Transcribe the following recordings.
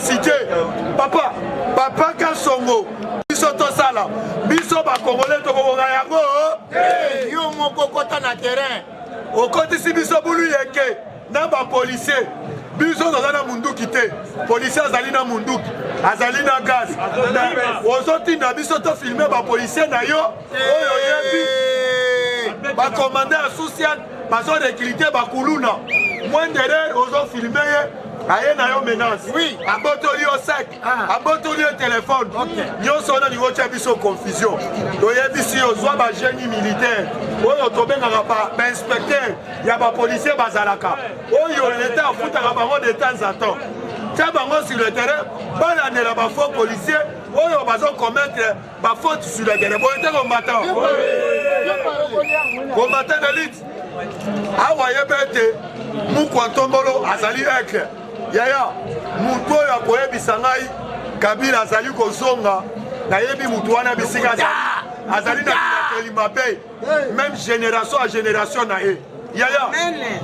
cité papa papa kasongo biso tosala biso bakongole tokobonga yango yo moko kota na terrain okotisi biso bulu yeke na bapolisier biso toza na munduki te policier azali na munduki azali na gaz ozotinda biso tofilme bapolisier na yo oyo oyebi bakomanda ya susian bazo recruter bakuluna mwenderer ozo filme ye aye na yo menace oui. abotoli yo sec ah. abotoli yo telefone okay. nyonso wana lingo tya biso confusion toyebisi yo zwa bagenie militaire oyo tobengaka bainspecteur ya bapolicier bazalaka oyo leta afutaka bango de temps à temps tya bango sur le terrain balandela bafaux policier oyo bazokometre Ba faute sur la guerre. Boye te combattant. Combattant de lutte. Awa yebe ete Mukwa Tombolo azali aigle. Yaya, moto oyo akoyebisa ngai Kabila azali kozonga, nayebi moto wana bisika azali na bilakeli mabe. meme génération ya génération na ye yaya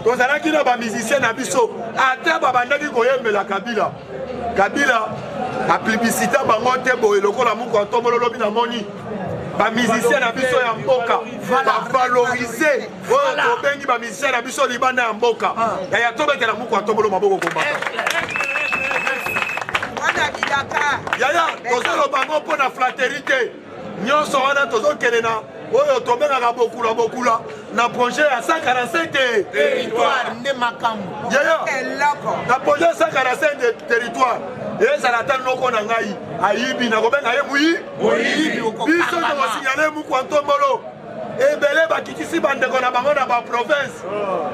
tozalaki na bamusicien na biso ata babandaki koyembela kabila kabila aplibisita bango te boye lokola moko atomolo lobi namoni bamusicien na biso ya mboka bavalorise oyo tobengi bamusicien na biso libanda ya mboka ah. yaya tobetela moko atomolo maboko kombata yaya tozoloba ngo mpo na flateri te nyonso wana tozokende na oyo tobengaka bokula bokula na projet ya 145 territoire nde makambo yeyo na projet ya 145 territoire ezala ata noko na ngai ayibi nakobenga ye moyi biso tokosinyale mokwa ntombolo ebele bakitisi bandeko na bango na baprovince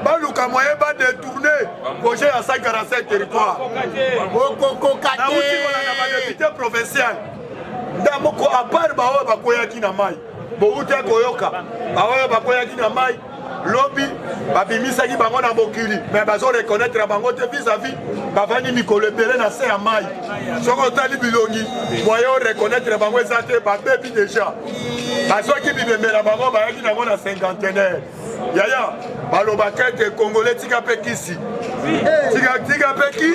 baluka moye badetourne projet ya 145 territoire okokoka te na badepute provincial ndamoko apart baoyo bakweyaki na mai bowuta koyoka baoyo bakweyaki na mai lobi babimisaki bango na mokili me bazo reconnaître bango te vis-à-vis bavandi mikolo ebele na se ya mai soki otali bilongi moyen oreconnaitre bango eza te babebi deja bazwaki bibembe na bango bayaki nango na cinquantenaire yaya balobaka ete kongole tika mpe kisi tika mpe ki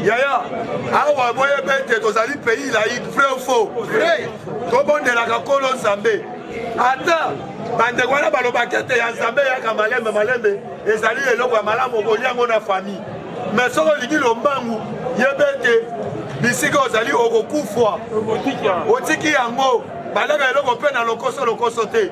yaya awa boyebi ete tozali pays laïque vrai ou faux tobondelaka nkolo nzambe ata bandeko wana balobaka ete ya nzambe yaka malembe malembe ezali eloko ya malamu okolia yango na famille me soki olingi lombangu yebe ete bisika ozali okokufwa otiki yango balaka eloko mpe na lokoso lokoso te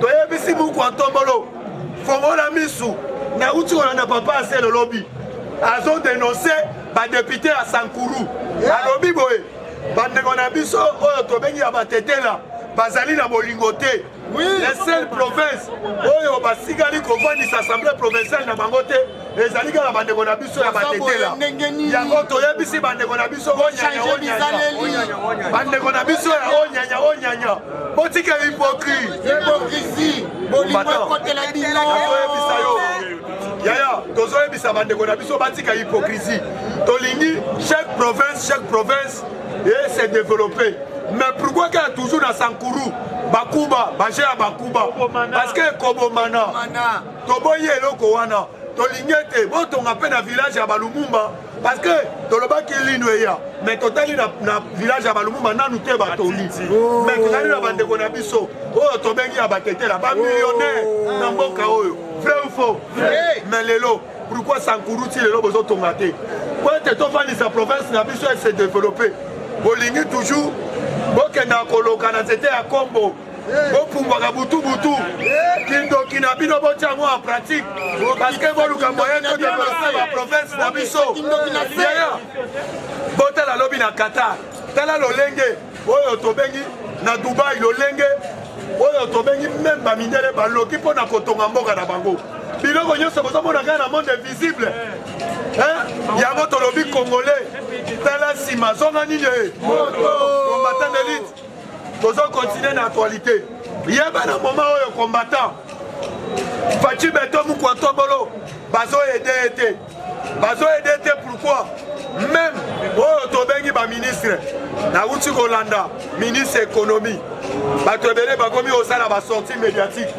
toyebisi buku ya ntombolo fongola misu nauti kolanda papa asele lobi azodenonse badepute ya sankuru alobi boye bandeko na biso oyo tobengi ya batetela bazali na bolingo te la seule province oyo basikali kovandisa assemblée provinciale na bango te ezali kaka bandeko na biso ya batetela yango toyebisi bandeko na biso bandeko na biso ya onyanya onyanya botika hypocrisie toyebisa yo yaya tozoyebisa bandeko na biso batika hypocrisie tolingi chaque province chaque province e se développer mais pourquoi kaka toujours na sankuru bakuba baje ya bakuba parce que ekobomana toboyi eloko wana tolingi ete botonga mpe na village ya balumumba parce que tolobaki lino eya mais totali na, na village ya balumumba nanu te batongi oh. mais tozali na bandeko na biso oyo tobengi ya batetela bamillionnaire oh. na mboka oyo vrai ou faux mais lelo pourquoi sankuru ti lelo bozotonga te po ete tofandisa province na biso ese développe bolingi toujours bokenda koloka na nzete ya kombo bopumbwaka butu butu kindoki na bino botya yango en pratique parceke boluka moyen to develope ba province na biso yaya botala lobi na qatar tala lolenge oyo tobengi na dubai lolenge oyo tobengi meme bamindele baloki mpo na kotonga mboka na bango biloko nyonso bozomona kaka na monde invisible yango tolobi congolais tala nsima zonga nini ye eh? combattant elite tozo continue na actualité yeba na moma oyo combattant faci beto mukua tobolo bazo ede ye te bazo ede ye te pourquoi meme oyo tobengi baministre nauti kolanda ministre économie bato ebele bakomi kosala basortie médiatique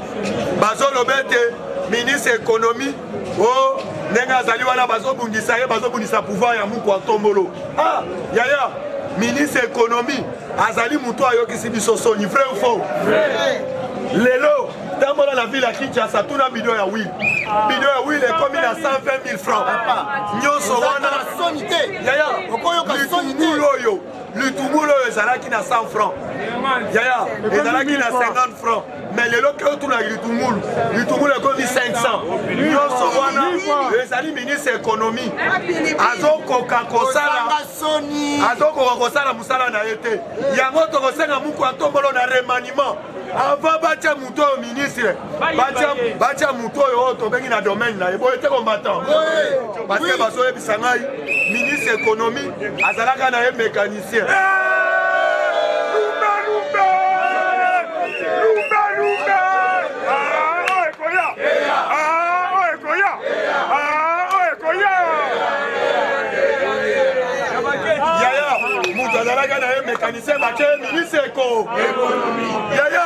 bazoloba ete ministre économie o oh, ndenge azali wana bazobundisa ye bazobundisa pouvoir ya mukwa ntombolo ah yaya ministre ya ekonomi azali motu ayokisi biso soni vrai ou faux lelo tambola na ville ya kinshasa tuna bido ya wil bido ya wil ekomi na 120000 franc nyonso wana yaya litungulu oyo litungulu oyo ezalaki na 100 franc yaya ezalaki na 50 franc mais lelo ke otuna litungulu litungulu ekomi 500 nyonso wana ezali ministre ya ekonomi azokoka kosala azokoka kosala mosala na ye te yango tokosenga muku atombolo na remaniement avant batya moto oyo ministre batya moto oyo oyo tobengi na domaine na ye boye te combattant parce que bazoyebisa ngai ministre ekonomi azalaka na ye mécanisme mécanicien bake ministre eko yaya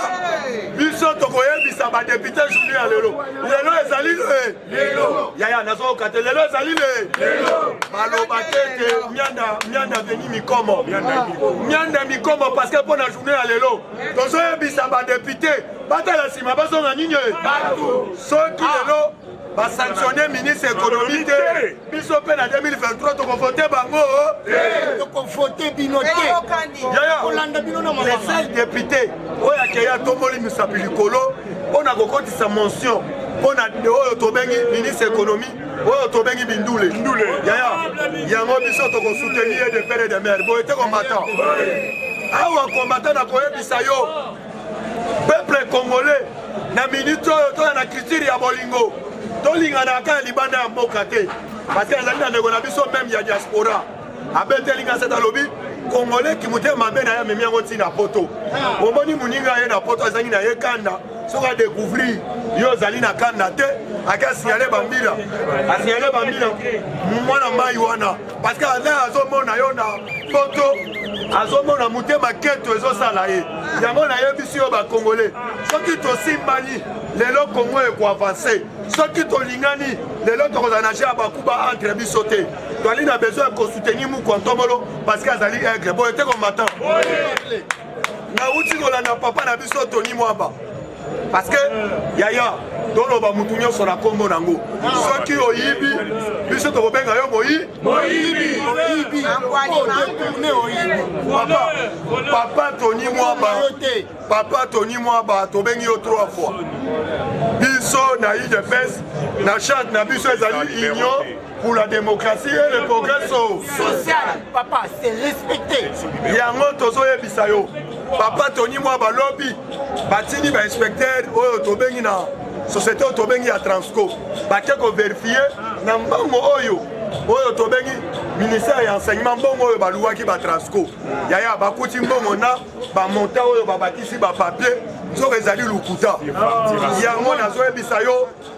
biso tokoyebisa badepute journée ya lelo lelo ezali lelo yaya nazoyoka te lelo ezali le lelo baloba te te mianda mianda veni mikomo mianda mikomo parce que mpo na journée ya lelo tozoyebisa badepute batala nsima bazonga nini soki ah. lelo basanctionne ministre économie te biso mpe na 2023 tokovote bango tokovote bino te kolanda bino na le seul député oyo akeya tomboli misapi likolo mpo na kokotisa mention mpo na oyo tobengi ministre économie oyo tobengi bindule yaya yango biso tokosoutenir ye de pere de mare boye te combattant awa combattant nakoyebisa yo peuple congolais na minute oyo toza na culture ya bolingo tolingana kaka libanda ya mboka te parce azali na ndeko na biso meme ya diaspora abeteli nga sete alobi congolais kimotema mabe na ye amemi yango ntina poto omoni moninga ye na poto azangi na ye kanda soki adecouvrir yo ozali na kanda te ake asignale bambila asignale bambila mwana mai wana parce que ana azomona yo na poto azomona motema keto ezosala ye yango nayebisi yo bakongole soki tosimbani lelo kongo ekoavanse soki tolingani lelo tokozala na ja bakuba entre biso te toali na besoin ya kosoutenir mukontomolo parce que azali aigle boye te komatan nauti kolanda papa na biso toni mwamba parce que yaya toloba mutu nyonso na nkombo na yango soki oyibi biso tokobenga yo moyi papa toni mwaba papa toni mwaba tobengi yo trois fois biso na udps na charte na biso ezali union pour la démocratie et le progrès social papa c'est respecté yango tozoyebisa yo papa toni mwa balobi batindi bainspecteur oyo tobengi na société oyo tobengi ya transco bake koverifie na mbango oyo oyo tobengi ministère ya enseignement mbongo oyo baluwaki batransco yaya bakuti mbongo na bamonta oyo babakisi bapapier nzoka ezali lokuta yango nazoyebisa yo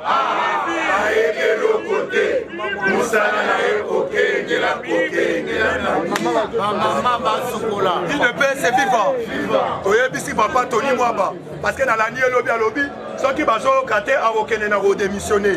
ayebi eloko te mosala na ye kokengela kokengela namama basokola udps viva toyebisi papa toni mwaba parce que nalandi elobi alobi soki bazoyoka te akokende na kodemissione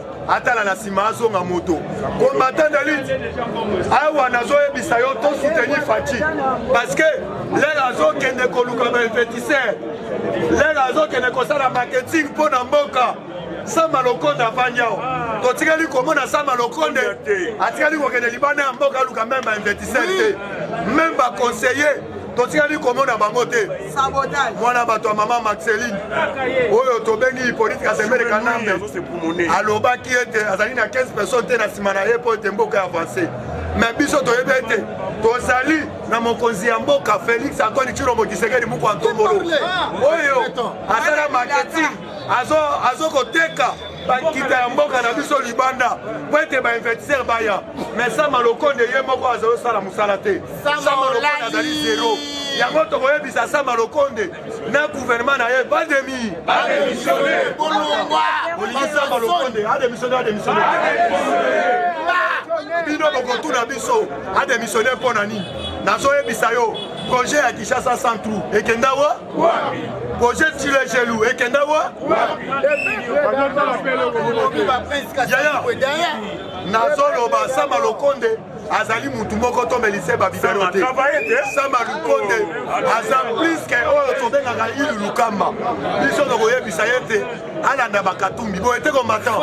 atala na nsima azonga moto combattant de lutte awa nazoyebisa yo to soutenir faci parce que lelo azokende koluka bainvestisseur lelo azokende kosala marketing mpo na mboka sama lokonde afandi awa totikali komona sama lokonde atikali kokende libanda ya mboka aluka meme bainvestisseur te meme baconseiller totikali komona bango te mwana bato ya mama maxeline oyo tobengi hippolite kasembele kanambe alobaki ete azali na 15 personne te na nsima na ye mpo ete mboka ya avance me biso toyebi ete tozali na mokonzi ya mboka félix antoni cilombo kisekedi moko antongolo oyo asala marketing azo koteka bakita ya mboka na biso libanda mpo ete bainvestisseur baya mais sama lokonde ye moko azali osala mosala te sama lokonde azali zero yango tokoyebisa sama lokonde na gouvernement na ye bademi olingi sama lokonde ademissione ademissione bino bokotuna biso ademissione mpo na nini nazoyebisa yo projet ya kinshasa sans trou ekenda wa projet tilegelu ekenda wa yaya nazoloba sama lokonde azali mutu moko to melise babibero te sama lukonde aza plus ke oyo tobengaka ilu lukamba biso tokoyebisa ye te alanda bakatumbi boye te combattant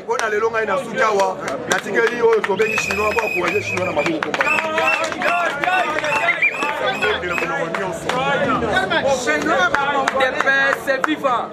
mpo na lelo ngai nasuki awa natikeli oyo tobengi chinois po akouraje chinois na maboko Chinois, mon dépêche, c'est vivant.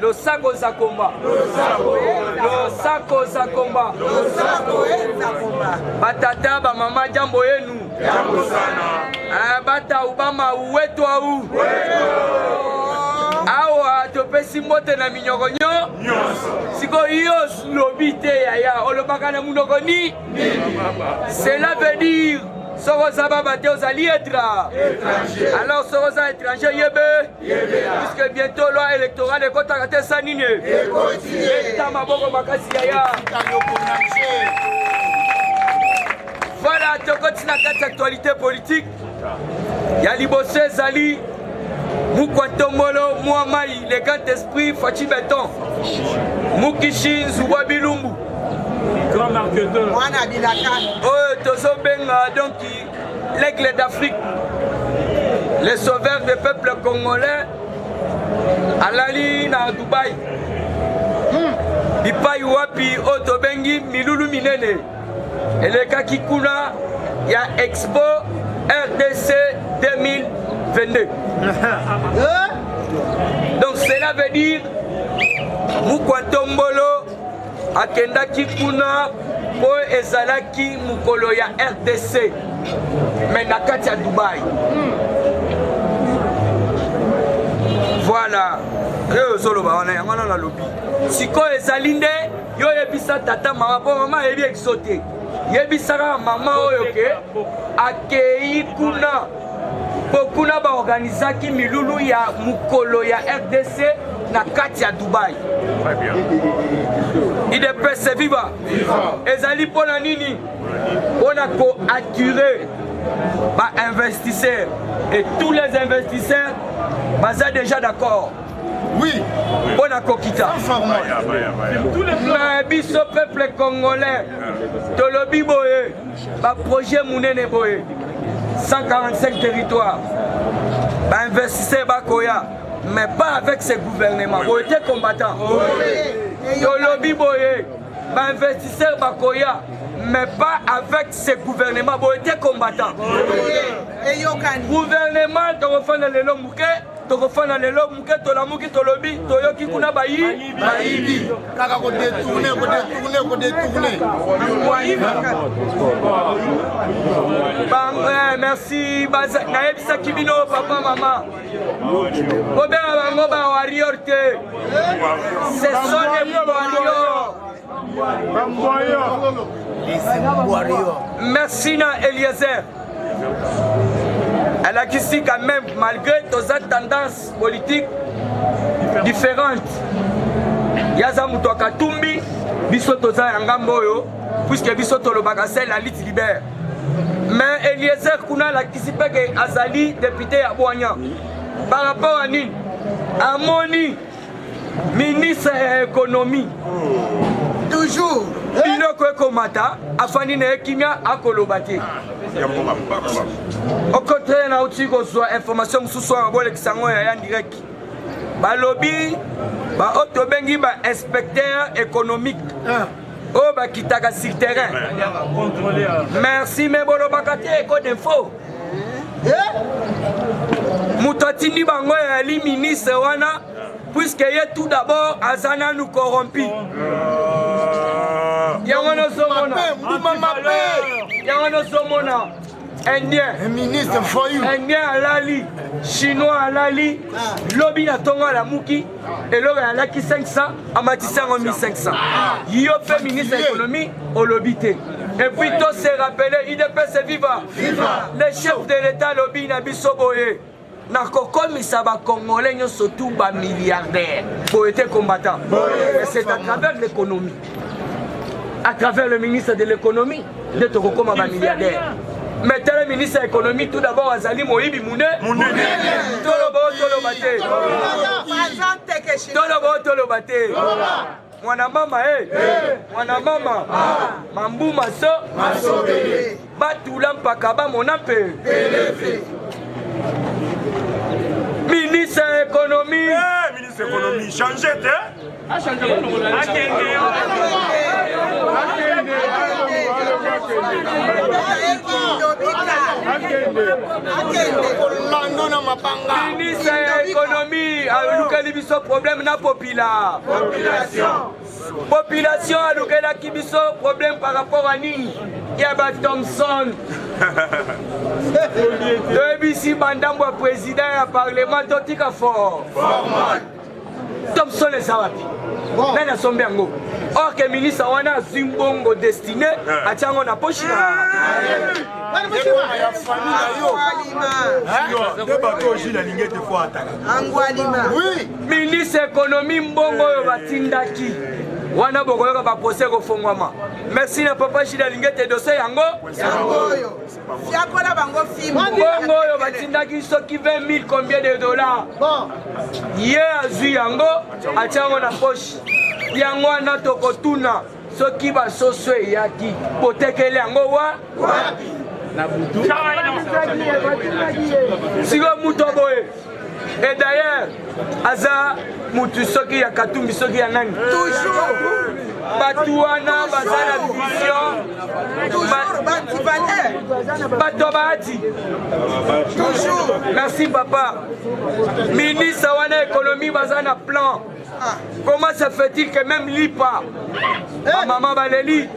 Losako za komba. Losako za komba. Losako za komba. Batata ba mama jambo yenu. Jambo sana. Eh, bata ubama uwetu au. Wetu topesi mbote na minyoko nyo nyonso sikoyo yo lobi te yaya olobaka na monoko ni cela veut dire soko oza baba te ozali etra alors soko oza étranger yebe puisque bientôt loi électorale ekotaka te sa nini eta maboko makasi yaya voilà tokoti na kati actualité politique ya liboso ezali mukwa ntombolo mwa mai le grand esprit faci beton mukishi nzubwa bilumbu mwana bilaka oyo tozobenga donki L'aigle d'Afrique, le sauveur des peuples congolais, alali na Dubaï. Hmm. Bipai wapi oyo tobengi milulu minene elekaki kuna ya Expo RDC 2022. Donc cela veut dire Mukwa Tombolo Akendaki kuna mpo ezalaki mokolo ya rdc me na kati ya dubai voilà oyo ozoloba wana yango wana nalobi sikoyo ezali nde yo oyebisa tata mama mpo mama ayebi ekiso te yebisaka mama oyo ke akei kuna mpo kuna baorganizaki milulu ya mokolo ya rdc na kati ya dubai idps viva ezali mpo na nini mpo na koattire bainvestisseurs et tous les investisseurs baza déjà d'accord oui mpo na kokita mais biso peuple congolais tolobi boye Ba projet munene boye 145 territoires ba investisseurs bakoya mais pas avec ce gouvernement boye te combattant tolobi boye ba investisseurs bakoya mais pas avec ce gouvernement boye te combattant gouvernement tokofanda lelo moke tokofana lelo moke tolamuki tolobi toyoki kuna bayi bayibi kaka kodetourne kodetourne kodetourne eh, merci nayebisaki bino papa mama bobenga bango ba warrior te ce sont des warrior merci na eliezer alakisi quand même malgré toza tendance politique différente ye aza moto ya katumbi biso toza ya ngambo oyo puiske biso tolobaka sel na lite libert mais eliezer kuna alakisi mpe ke azali depute ya bwanya par rapport ya nini amoni ministre ya ekonomi toujours biloko ekomata afandi na ye kimia akoloba te okotre nauti kozwa information mosusu awa bolekisa yango ya ya direct balobi baoyo tobengi ba inspecteur économique ah. oyo bakitaka sur terrain merci me bolobaka te eko d'info moto atindi bango eyali ministre wana puiske ye tout d'abord aza nanu corrompi yango nozomona mbuma mabe yango nozomona indien indien alali chinois alali lobi na ntongo alamuki eloko alaki 500 amatisi yango 1500 yo mpe ministre ya économie olobi te Et puis tout se rappeler, IDPS viva. viva. Le chef de l'État lobby na biso boye. nakokomisa bacongolais nyonso tu bamilliardaire boye te combattant c'est à travers l'économie à travers le ministre de l'économie nde tokokoma bamilliardaire mais tala ministre ya économie tout d'abord azali moyibi mune toloba o toloba te toloba o toloba te mwana mama e mwana mama mambu maso masobele batula mpaka bamona mpe ministre ya ekonomi eh, ministre ya ekonomi change te ministre ya ekonomi alukeli biso problème na population Population alukelaki biso problème par rapport à nini ya ba Thompson toyebisi bandambo ya président ya parlement totika fort Thompson eza wapi nani asombi yango or ke ministre wana azwi mbongo destiné eh. atya yango na poshi na nde bato ojila lingete fo ataka ministre ekonomi mbongo oyo batindaki wana bokoyoka baprose ekofongwama merci na papa jili alingi ete dose yango mbongo oyo batindaki soki 20000 combien de dollar ye azwi yango atya yango na poche yango wana tokotuna soki basoso eyaki botekeli yango wa wapi na butu sikoyo moto boye et d'ailleurs aza mutu soki ya katumbi soki ya nani toujours bato wana baza na vision bato ya bahati toujours merci papa ministre wana ekonomi baza na plan Ah. Comment se fait-il que même Lipa, eh. ma maman Baleli,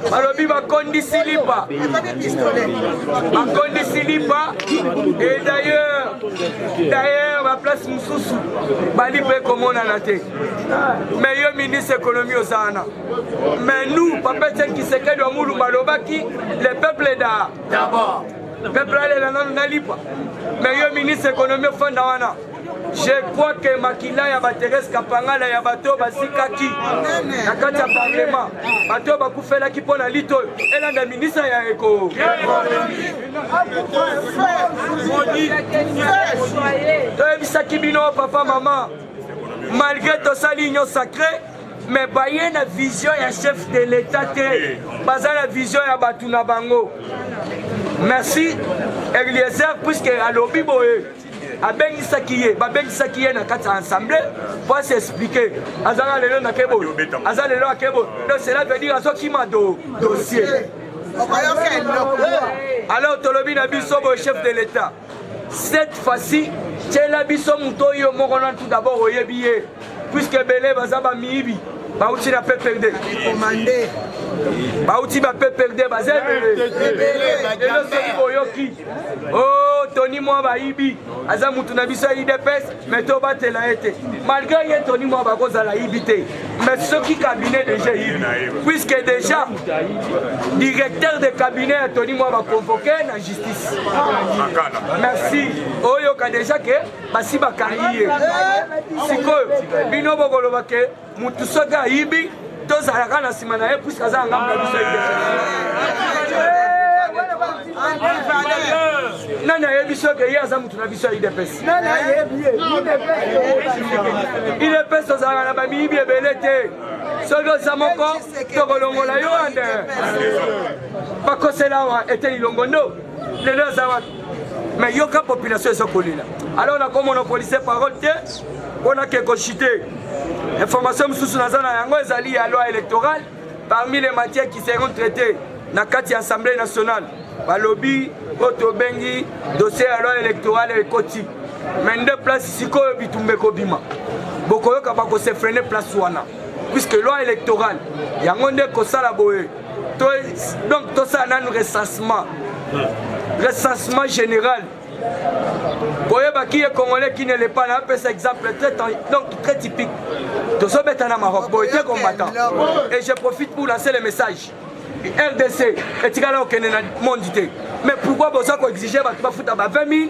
balobi bakondisi Lipa, bakondisi Lipa, et d'ailleurs, d'ailleurs, ba place mosusu bali mpe komonana te mais yo ministre économie oza wana mais nous papa etienne kisekedi wa mulumba alobaki le peuple da d'abord peuple alela nano na lipa mais yo ministre économie ofanda wana Je crois que makila ya Baterese Kapangala ya bato oyo bazikaki na kati ya parlement, bato oyo bakufelaki mpo na lito oyo elanda ministre ya eko toyebisaki bino papa mama, malgré tosali union sacrée me baye na vision ya chef de l'etat te baza na vision ya bato na bango merci eliezer puiske alobi boye abengisaki ye babengisaki ye na kati ya ensemble po asi explike azanga lelo na kebo aza lelo akebo donc cela veut dire azokima do dossier alors tolobi na biso boye chef de l'état cette fois-ci tyela biso moto oyo moko na tout d'abord oyebi ye puisque ebele baza bamiyibi bauti na pprd bauti ba pprd baza ebelelelo soki boyoki o oh, toni mwa bayibi aza mutu na biso ya idps mai tobatela ye te malgré ye toni mwa bakozala yibi te mais soki cabinet déjà yibi puisque déjà directeur de cabinet ya toni mwa baconvoke na justice merci oyoka déjà ke basi bakangi ye sikoyo bino bokoloba ke mutu soki ayibi tozalaka na nsima na ye puiske aza ngambo na biso nani ayebi soki ye aza mutu na biso ya idps idps tozalaka na bamiyibi ebele te soki oza moko tokolongola yo ande bakosela awa eteni longondo lelo aza wapi mais yoka population eza kolela alors nakomona policier parole te mpo nake kochite information mosusu naza na yango ezali ya loi électorale parmi les matières qui seront traitées na kati ya assemblée nationale balobi oyo tobengi dossier ya loi électorale ekoti mais nde place sikoyo bitumba ekobima bokoyoka bakosefrene place wana puisque loi électorale yango nde kosala boye To, donc tosala nanu recensement recensement général koyeba ki ye congolais ki ne le pas na apesa exemple très, donc très typique tozobeta na maroc boye te combattant et je profite pour lancer le message rdc etikala kokende na monde te mais pourquoi boza koexige bato bafuta ba 20 000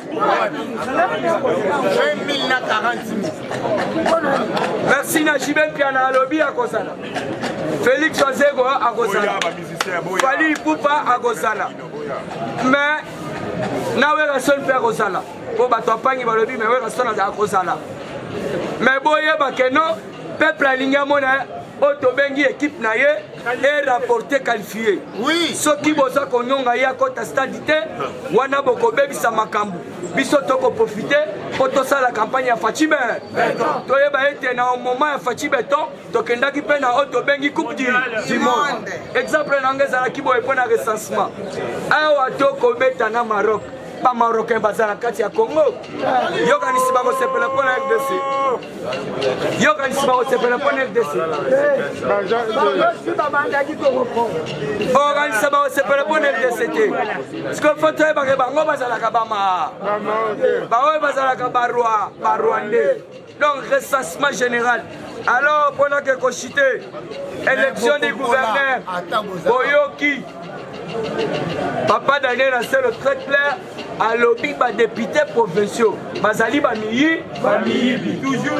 merci na jibe mpiana alobi akozala félix ozego akozala fali pupa akozala mais na werrason mpe akozala mpo bato apangi balobi me werrason akozala me boyeba keno peuple alingi amona oyo tobengi ekipe na ye e rapporte qualifie oui. soki boza konyonga ye akota stade te wana bokobebisa makambo biso tokoprofite mpo tosala kampagne ya faci beton toyeba ete na moment ya faci beton tokendaki mpe na oyo tobengi coupe du monde exemple na yango ezalaki boye mpo na recensement awa tokobeta na maroc ba marocain baza na kati ya congo yokanisi bakosepela mpo na rdc yokanisi bakosepela mpo na rdc okanisa bakosepela mpo na rdc te sikoyo fo toyebake bango bazalaka bama baoyo bazalaka barwa barwandais donc recensement général alors mpo nake kochite élection du gouverneur boyoki papa daniel aselo très clair alobi badepute provinciaux bazali bamiyi bamiyibi toujours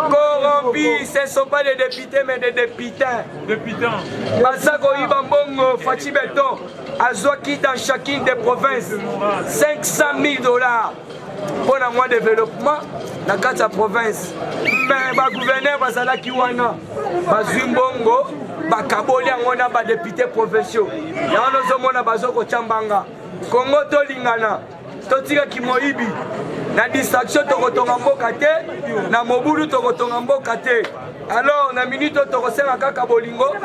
corrompi ce sont pas des députés mais des députins députants baza koyiba mbongo faci beton azwaki dans chacune des provinces 500 000 dollars mpo na mwa developpement na kati ya province me bagouverneur bazalaki wana bazwi mbongo bakaboli yango na badepute provinciaux yango nozomona bazokotya mbanga kongo tolingana totika kimoyibi na distraction tokotonga mboka te na mobulu tokotonga mboka te Alors na minute oyo tokosenga kaka bolingo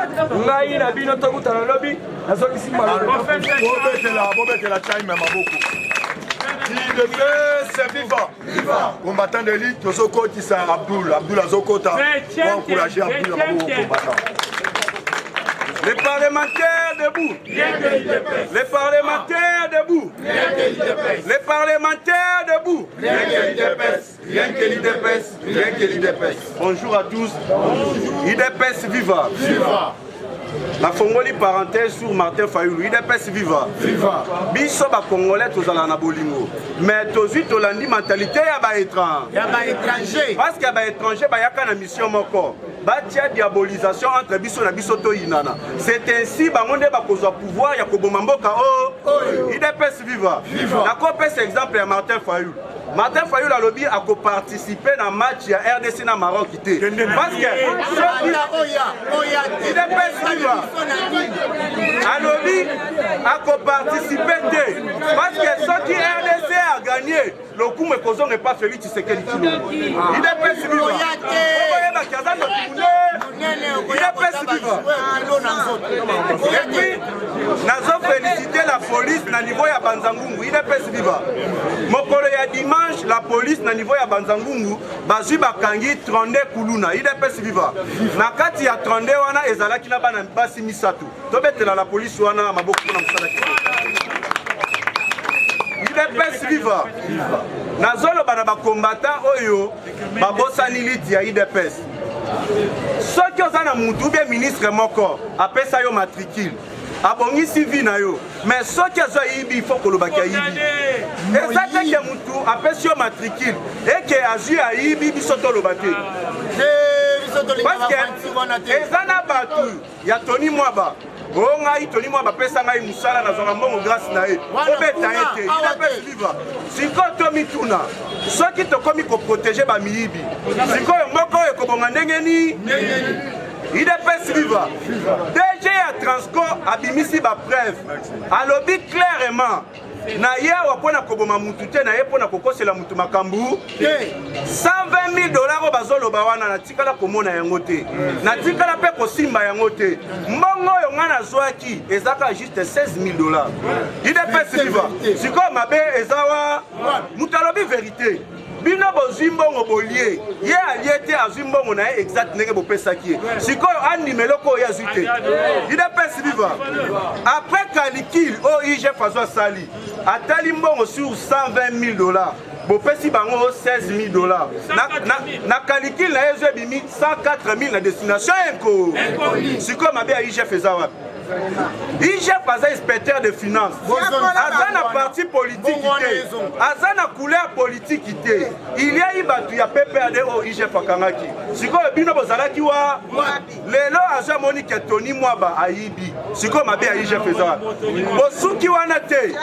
ngai na bino tokutana lobi nazongisi mabobetela bobetela time ya maboko combattant de lite tozokotisa abdul abdul azokota encourage abdul ya maboko combattant Les parlementaires debout. Les parlementaires debout. Les parlementaires debout. Rien que l'IDPS, rien que l'IDPS. Bonjour à tous. Bonjour. IDPS viva. Viva. nafongoli parenthèse sur martin fayulu idps viva viva biso bacongolais tozala na bolingo mais tozwi tolandi mentalité ya baétranger parce que baétranger bayaka na mission moko batia diabolisation entre biso na biso toyinana c'est ainsi bango nde bakozwa pouvoir ya koboma mboka oyo oh, oh. idps viva nakopesa exemple ya martin fayulu Martin Fayulu alobi ako participer na match ya RDC na Maroc te. Parce que alobi ako participer te. Parce que soki RDC a gagné, lokumu ekozonga epa Felix Tshisekedi Tshilombo. Idepesi biwa. Okoyeba kiazana kimunde. il a pesi biva et puis nazo félicité la police na niveau ya banzangungu il a pesi biva mokolo ya dimanche la police na niveau ya banzangungu bazwi bakangi 32 kuluna il a pesi biva na kati ya 32 wana ezalaki na bana basi misato tobetela la police wana maboko mpona mosala udps viva nazoloba na bakombata oyo babosani liti ya udps soki oza na mutu ubie ministre moko apesa yo matricule abongisi vi na yo mais soki azo ayibi ifo kolobaki ayibi eza te ke mutu apesi yo matricule eke azwi ayibi biso toloba te ah. eh, parce que eza na bato ya toni mwaba o ngai toni mwaba apesa ngai mosala nazwaka mbongo grâce na ye obeta ye te inapesi vivre sikoyo tomituna soki tokomi koprotege bamiyibi sikoyo mboka oyo ekobonga ndenge nini idps viva dg ya transco abimisi bapreuve alobi clairement naye awa mpo na koboma mutu te naye mpo na kokosela mutu makambo te 120000 dollars oyo bazoloba wana natikala komona yango te natikala mpe kosimba yango te mbongo oyo ngai nazwaki ezaka juste 16000 dollars idps viva sikoyo mabe eza wa mutu alobi verite bino bozwi mbongo bolie ye alie te azwi mbongo na ye exact ndenge bopesaki ye sikoyo andima eloko oyo azwi te idps viva après calicule oyo igf azo asali atali mbongo sur 120 000 dollars bopesi bango 16 000 dollars na calicule na ye ezo ebimi 104 000 na destination enko sikoyo mabe ya igf eza wapi IGF aza inspecteur de finance aza na parti politiki te aza na couleur politiki te iliai bato ya pprd oyo IGF akangaki sikoyo bino bozalaki wa lelo azo amoni ke toni mwaba ayibi sikoyo mabe ya IGF eza wapi bosuki wana te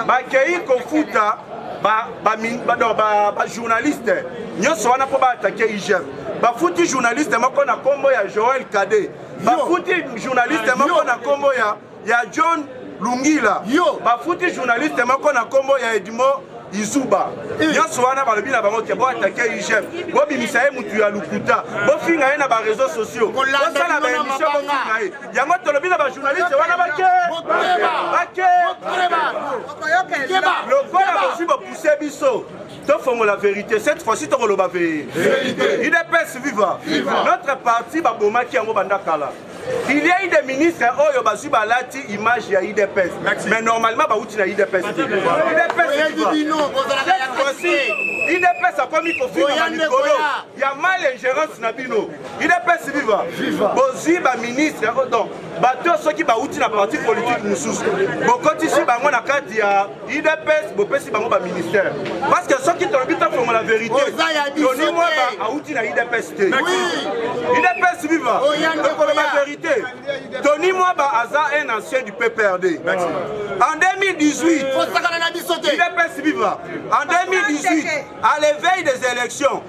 bakei kofuta bajournaliste ba, ba, ba, ba, ba, nyonso wana mpo baatake IGF bafuti journaliste moko na nkombo ya Joel Kade bafuti journaliste moko na nkombo ya, ya john lungila bafuti journaliste moko na nkombo ya edmo izuba eh. nyonso wana balobi na bango te boatake igf bobimisa ye motu ya lokuta bofinga ye na bareseau sociaux bosala baemission bofinga ye yango tolobi na bajournaliste wana bake bake lokola bozwi bopuse biso tofongola verité cette fois-ci tokoloba veye udps viva notre parti babomaki yango banda kala il y a eu des ministres oyo bazwi balati image ya udps mais normalement bauti na udps te udps akomi kofinga na mikolo ya mal ingérence na bino udps viva bozwi baministre donc bato soki bauti na parti politique mosusu bokotisi bango na kati ya idps bopesi bango baministère parce que soki tolobi tofongo la vérité toni mwaba awuti na idps te idps viva tokolo ba vérité toni mwaba aza un ancien du pprd en 2018 idps viva en 2018 à l'éveil des élections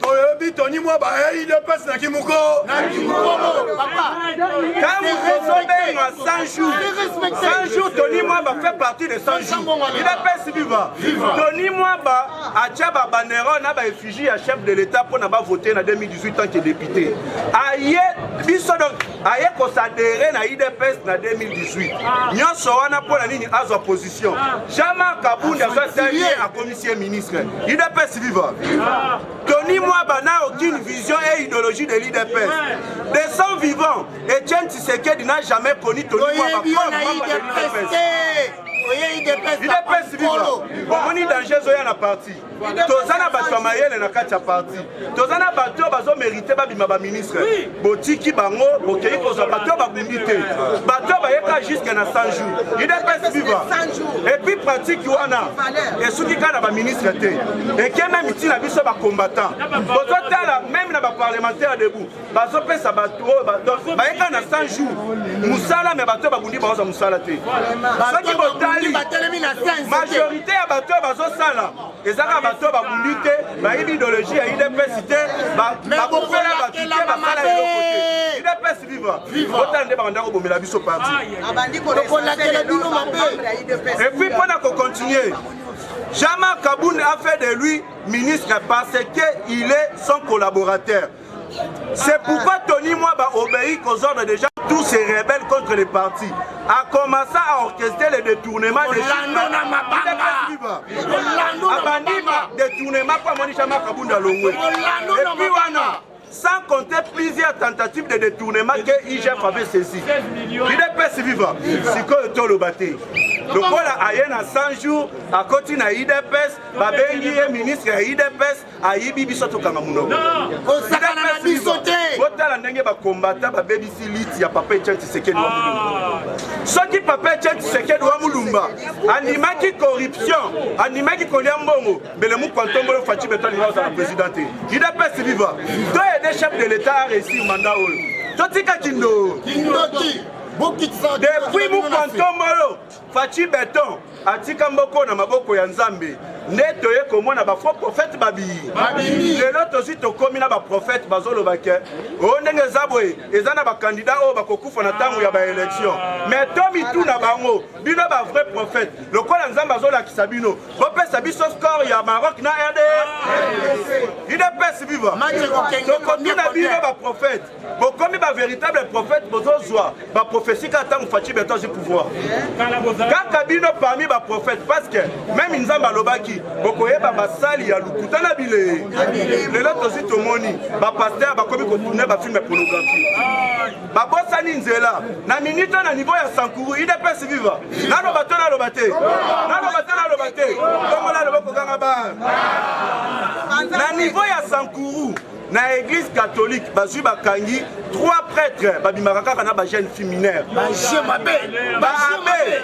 toyebi toni mwa baei de pasi na kimuko ntango tozobenga 100 jours 100 jours toni mwa ba fait partie de 100 jours ida pesi viva toni mwa ba atya babanero na baeffigie ya chef de l'état mpo na bavote na 2018 tant que député aye biso donc aye kosadere na idps na 2018 nyonso wana mpo na nini azwa position jama kabundi azwa taye akomisi ye ministre idps viva tony mwaba na aucune vision et idéologie de l'idps de son vivant etienne tshisekedi n'a jamais connu tony mwaba comme membre de l'idps idps viva bomoni danger ezoya na parti toza na bato ya mayele na kati ya parti toza na bato oyo bazomerite babima baministre botiki bango bokei kozwa bato oyo babundi te bato oyo bayeka juske na 100 jours udps viva epuis pratique wana esuki kaka na baministre te eke meme ntina biso bacombattant bozotala meme na baparlementaire debout bazopesa bato oyo bayeka na 100 jours mosala me bato oyo babundi baoza mosala te soki botali majorité ya bato oyo bazosala ezaka bato oyo babundi te bayebi ideologie ya udps te bakufela bato te basala eloko te udps viva otala nde bakanda kobomela biso parti epuis mpo na kocontinue Jama Kaboun a fait de lui ministre parce qu'il est son collaborateur. C'est pourquoi Tony Mwaba obéit aux ordres des gens, tous ces rebelles contre les partis. A commencé à orchestrer les détournements des Abandima, détournement pour Monisha Makabunda Longwe. Et puis Wana, sans compter plusieurs tentatives de détournement que IGF avait saisi. L'IDPS viva, c'est quoi le tolo bâti lokola aye na 100 jours akoti na idps babengi ye ministre ya idps ayibi biso tokanga munoko kosakana na biso te botala ndenge bakombata babebisi liti ya papa etienne tshisekedi wa mulumba ah. soki papa etienne tshisekedi wa mulumba andimaki corruption andimaki kolia mbongo mbele mukwantombolo faci beto alinga kozala president te idps viva to aide chef de l'état a réussir mandat oyo totika kindoo depuis mukwantombolo Fatshi beton atika mboko na maboko ya Nzambe nde toye komona ba faux prophète babiyi lelo tosi tokomi na ba prophète bazoloba ke o oh, ndenge eza boye eza na bakandida oyo bakokufa na ntango ya baélection mais to mituna bango bino ba vrai prophète lokola nzambe azolakisa bino bopesa biso score ya maroc na rd idps viva tokotuna bino ba prophète bokomi ba véritable prophète bozozwa ba prophétie kaka ntango faci beto azwi pouvoir kaka bino parmi ba prophète parce que meme nzambe alobaki bokoyeba basali ya lokuta na bilee lelo tozwi tomoni bapaster bakomi kotourne bafilme pornographie babosani nzela na minute na niveau ya sankuru idps viva naloba to naloba te naloba te naloba te tomona loba kokanga ba na niveau ya sankuru na église catholique bazwi bakangi trois prêtres babimaka kaka na bajeune fille mineure baje mabe baabe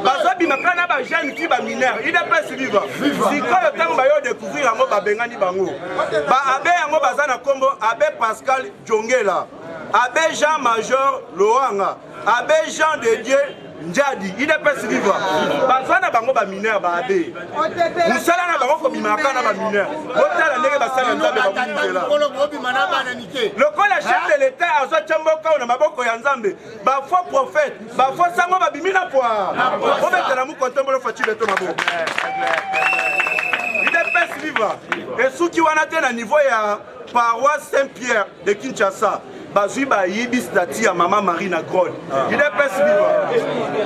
bazobima kaka na bajeune fille bamineure idps viva sikoyo ntango bayo découvrir yango babengani bango baabe yango baza na nkombo abe pascal jongela abe jean major loanga abe jean de dieu njadi idps viva baza na bango bamineur baabe mosala na bango kobimaka na bamineur botala ndenge basala nzambe bakumisela lokola chef de l'etat azwa tya mboka oyo na maboko ya nzambe bafo prophète bafo sango babimi na pwa obetela mokontombolo faci beto maboko idps viva esuki wana te na niveau ya paroisse saint pierre de Kinshasa bazwi bayibi stati ya mama marie na grode ah. idps biwa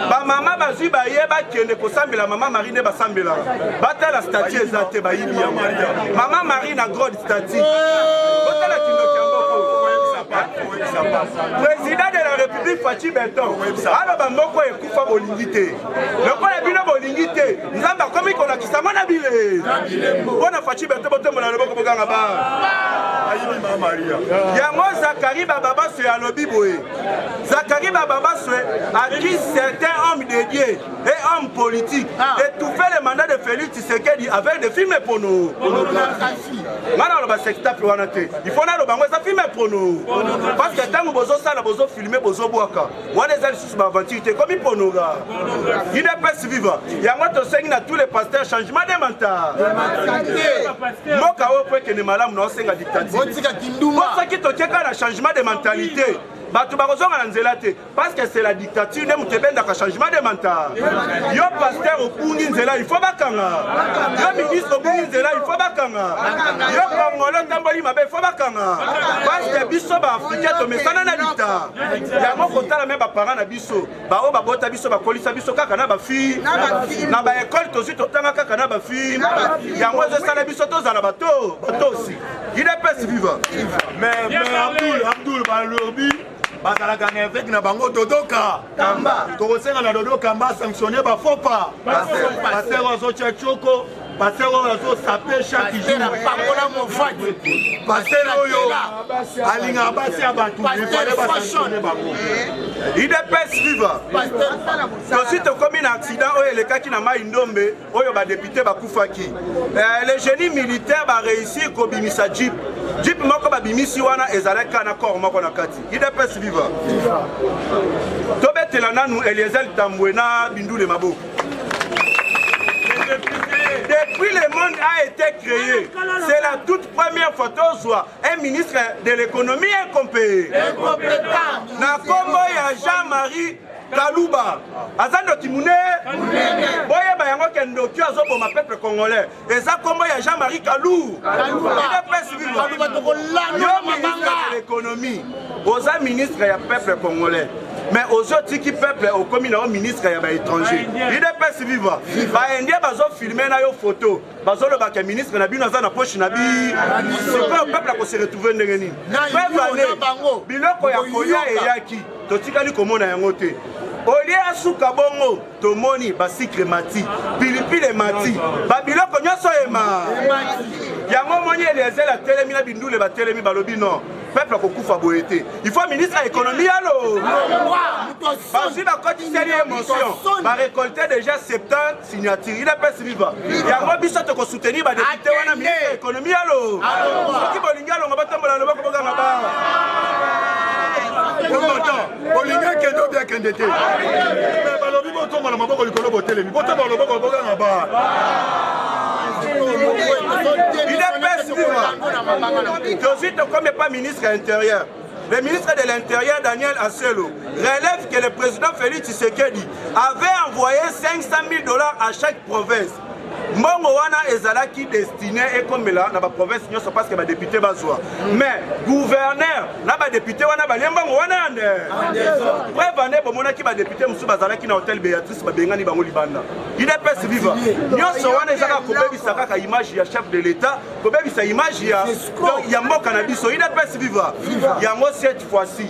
bamama bazwi baye bakende kosambela mama marie nde basambelaka batala stati eza te bayibi ya maria mama marie na grode stati botala kindoki ya mboko président de la république faci beton aloba mboko ekufa bolingi te lokola bino bolingi te nzambe akomi kolakisa ngo na bile mpo na faci bete botombola loboko boganga ba yango zakari bababaswe alobi boye zakari bababaswe aki certain homme de dieu et homme politique ah. étouffer le mandat de félix tshisekedi avec des films pono nga naloba sextape wana te il faut naloba yango eza filme pono parce que ntango bozosala bozofilme bozobwaka wana eza lisusu baaventure te ekomi ponoga udps viva yango tosengi na tous les pasteurs changement de mental mboka oyo po ekende malamu na osenga dictatirsoki totieka na changement de mentalité bato bakozonga na nzela te parce que c'est la dictature nde moto ebendaka changement de mental yo paster obungi nzela il faut bakanga yo ministre obungi nzela il faut bakanga yo kongolo otamboli mabe il faut bakanga parce que biso baafricain tomesana na dicta yango kotala me baparent na biso baoyo babota biso bakolisa biso kaka na bafille na baekole tozwi totanga kaka na bafille yango ezosala biso tozala bato batosi idps viva mais abdul abdul balobi bazalaka na eveke na bango dodoka tokosenga na dodo kamba sanctionne bafopa paster azotya coko Pasteur oyo azosape chaque jour apakola mofati pasteur oyo alingaka basi ya bato efale basashone bango idps viva tosi tokomi na accident oyo elekaki na mai ndombe oyo badepute bakufaki eh, le génie militaire bareussi kobimisa jeep jeep moko babimisi wana ezalaki kaka na corps moko na kati idps viva tobetela nanu eliezel tambwe na bindule maboko Depuis le monde a été créé, c'est la toute première fois tozwa un ministre de l'économie incompé. Incompétent. Na kombo ya Jean-Marie kaluba aza ndoki monene boyeba yango ke ndoki azoboma peuple congolais eza kombo ya jean marie kalou ekonomi oza ministre ya peuple congolais mais ozo tiki peuple okomi na yo ministre ya baétranger udps viva baindien bazofilme na yo foto bazoloba ke ministre na bino aza na poche na bi sikoyo peuple akose retrouve ndenge nini pevane biloko ya kolia eyaki totikali komona yango te olie asuka bongo tomoni basikre mati pilipili emati babiloko nyonso ema yango omoni eliezele atelemi na bindule batelemi balobi no peuple akokufa boye te il faut ministre ya économie ya lolwa bazwi bakotiseli ye motion barecolte déjà 70 signature il epesi viva yango biso tokosoutenir badepute wana ministre ya économie ya lo soki bolingi alonga batambola loboko boganga ba olingi akende obi akende te me balobi botomba na maboko likolo botelemi botomba loboko boganga ba tozwi tokomi epa ministre ya intérieur le ministre de l'Intérieur Daniel Asselo relève que le président Félix Tshisekedi avait envoyé 500 000 dollars à chaque province mbongo wana ezalaki destine ekomela na baprovince nyonso parceke badepute bazwa mais gouverneur na badepute wana balie mbongo wana yande preuve ande bomonaki badepute mosusu bazalaki na hotel beatrice babengani bango libanda idps viva nyonso wana ezaka kobebisa kaka image ya chef de l'etat kobebisa image ya mboka na biso idps viva yango cette fois-ci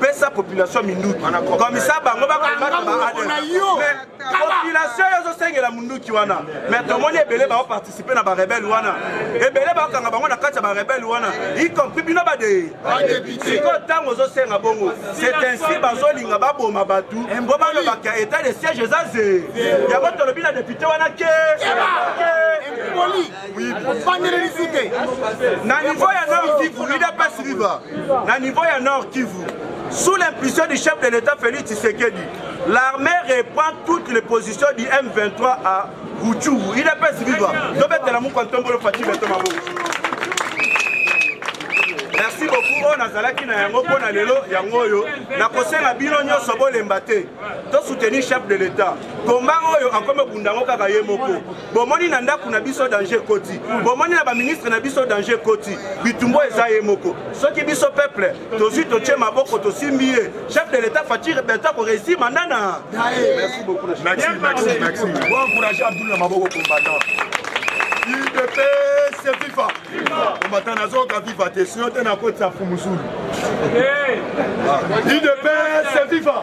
pesa population minduki komisa bango bakomata population yo ozosengela munduki wana mais tomoni ebele baoparticipe na barebele wana ebele bakanga bango na kati ya barebele wana y compris bino bade sikoyo ntango ozosenga bongo c'est ainsi bazolinga baboma bato mpo balobaka etat de siège eza ze yango tolobi na depute wana ke ofandeli lisu te na niveau ya nord kivu udps viva na niveau ya nord kivu sous l'impulsion du chef de l'état félix tshisekedi l'armée reprend toutes les positions du m23 à ruchuru udps viva tobetela mokwa ntombolo fati beto maboko merci beaucoup oyo nazalaki na yango mpo na lelo yango oyo nakosenga bino nyonso bolemba te tosoutenir chef de l'état komba oyo akomi obunda yango kaka ye moko bomoni na ndako na biso danger ekoti bomoni na baministre na biso danger ekoti bitumbo eza ye moko soki biso peuple tozwi totie maboko tosimbi ye chef de l'état fatire berta koreussi manda na maboko combattant udps fifa combattant nazoyoka viva te sino te nakotisa fumusulu udps eh! ah. fifa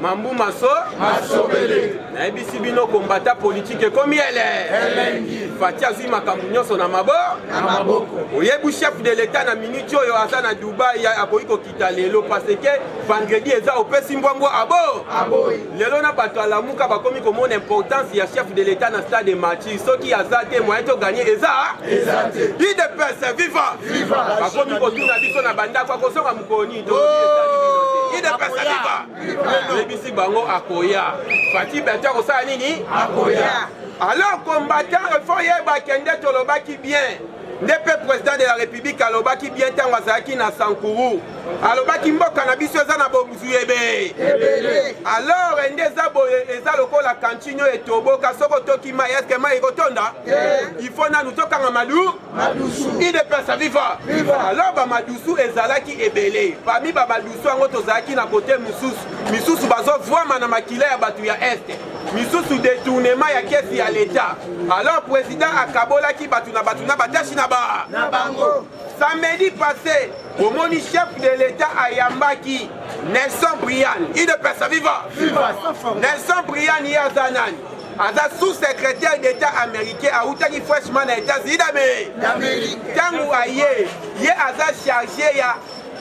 mambu maso masobele nayebisi bino kombata politike ekomi ele elengi fati azwi makambo nyonso na mabo na maboko oyebi chef de l'etat na miniti oyo aza na dubai akoki kokita lelo parce que vendredi eza opesi mbwambwa abo aboyi lelo na bato alamuka bakomi komona importance ya chef de l'etat na stade de matchi soki aza te moyen toganye eza eza te idps viva viva bakomi kotuna biso na bandako akozonga mokoni oyebisi bango akoya fati bati akosala nini akoya alors combattant efo yeba kende tolobaki bien nde mpe président de la république alobaki bien ntango azalaki na sankuru alobaki mboka na biso eza na bozwi ebe alors ende eza boye eza lokola kantine oyo etoboka soki otoki mai eske mai ekotonda ifo nanu tokanga malu madusu idps viva viva alors bamadusu ezalaki ebele parmi bamadusu yango tozalaki na kote mosusu misusu bazovwama na makila ya bato ya este misusu detournement ya kesi ya leta alors président akabolaki bato na bato na batashi na ba na bango samedi passé omoni chef de leta ayambaki nelson brian idps viva viva nelson brian ye aza nani aza sous-secrétaire d'état américain awutaki fraîchement na états-unis d'amérique ntango aye ye aza chargé ya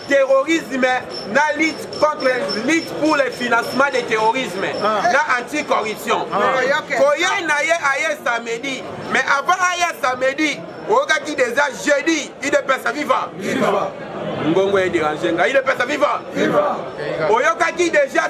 terrorisme na lutte contre lutte pour le financement de terrorisme ah. na anticorruption ah. koya na ye aye samedi mais avant aya samedi oyokaki déjà jeudi idepesa viva ngongo ederange ngai idepesa viva oyokaki déjà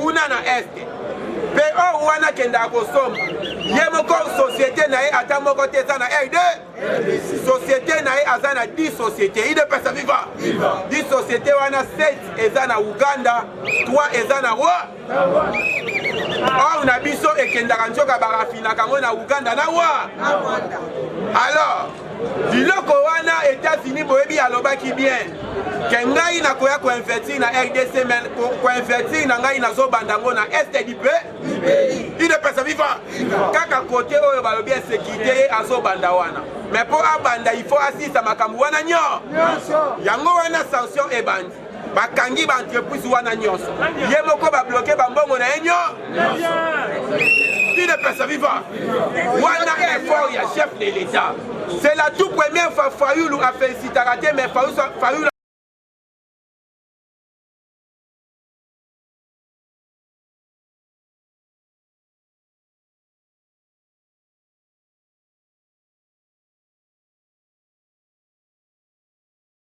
kuna na este mpe oyo wana akendaka kosomba ye moko société na ye ata moko te eza na rd société na ye aza na 10 société idepesa viva 10 société wana 7 eza na uganda 3 eza na wa or na biso ekendaka nzoka barafinaka yango na uganda na wa alors biloko wana etats-unis boyebi alobaki bien ke ngai nakoya koinvestir na rdc me koinvestir na ngai nazobanda yango na est du pays idepesa viva kaka kote oyo balobi ya sekirite ye azobanda wana me mpo abanda ifo asisa makambo wana nyonso yango wana sanction ebandi bakangi ba entreprise wana nyonso ye moko babloke bambongo na ye nyonso il est personne vivant wana effort ya chef de l'état c'est la tout première fois fayulu afelicitaka te mais fayulu